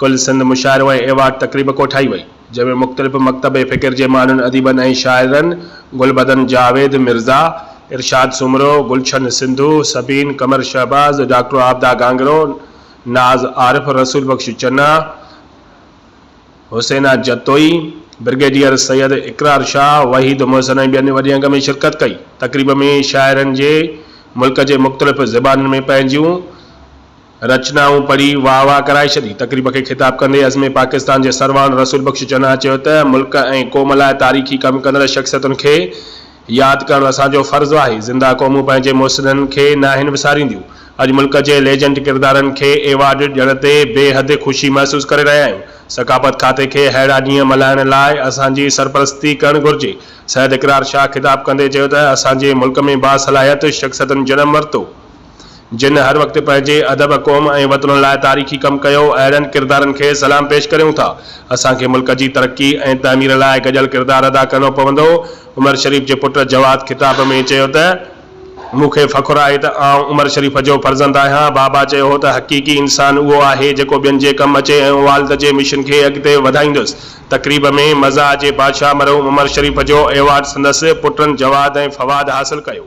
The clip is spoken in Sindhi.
ڪل سنڌ مشاعرو ۽ ايوارڊ تقريب ڪوٺائي وئي، جنهن ۾ مختلف مڪتب فڪر جي ماڻهن، اديبن ۽ شاعرن گلبدن جاويد مرزا، ارشاد سومرو، گلشن سنڌو، سبين قمر شهباز، ڊاڪٽر عابده گانگرو، ناز عارف، رسول بخش چنا، حسينا جتوئي، برگيڊيئر سيد اقرار شاهه، وحيد محسن ۽ ٻين وڏي انگ ۾ شرڪت ڪئي. تقريب ۾ شاعرن جي ملڪ جي مختلف زبانن ۾ پنهنجيون. رچنائون پڙهي واهه واهه ڪرائي ڇڏي. تقريب کي خطاب ڪندي عزم پاڪستان جي سرواڻ رسول بخش چنا چيو ته ملڪ ۽ قوم لاء تاريخي ڪم ڪندڙ شخصيتن کي ياد ڪرڻ اسان جو فرض آهي، زنده قومون پنهنجي مؤسسن کي ناهن وسارينديون، اڄ ملڪ جي ليجنڊ ڪردارن کي ايوارڊ ڏيڻ تي بي حد خوشي محسوس ڪري رهيا آهيون، ثقافت کاتي کي اهڙا ڏينهن ملهائڻ لاء اسان جي سرپرستي ڪرڻ گهرجي، سيد اقرار شاهه خطاب ڪندي چيو ته اسان جي ملڪ ۾ باصلاحيت شخصيتن جنم ورتو. جن هر وقت پنهنجي ادب، قوم ۽ وطن لاء تاريخي ڪم ڪيو، اهڙن ڪردارن کي سلام پيش ڪريون ٿا. اسان کي ملڪ جي ترقي ۽ تعمير لاء گڏيل ڪردار ادا ڪرڻو پوندو. عمر شريف جي پٽ جواد خطاب ۾ چيو ته، مون کي فخر آهي ته آئون عمر شريف جو فرزند آهيان. بابا چيو هو ته حقيقي انسان اهو آهي جيڪو ٻين جي ڪم اچي ۽ والد جي مشن کي اڳتي وڌائيندس. تقريب ۾ مزاح جي بادشاهه مرحوم عمر شريف جو ايوارڊ سندس پٽن جواد ۽ فواد حاصل ڪيو.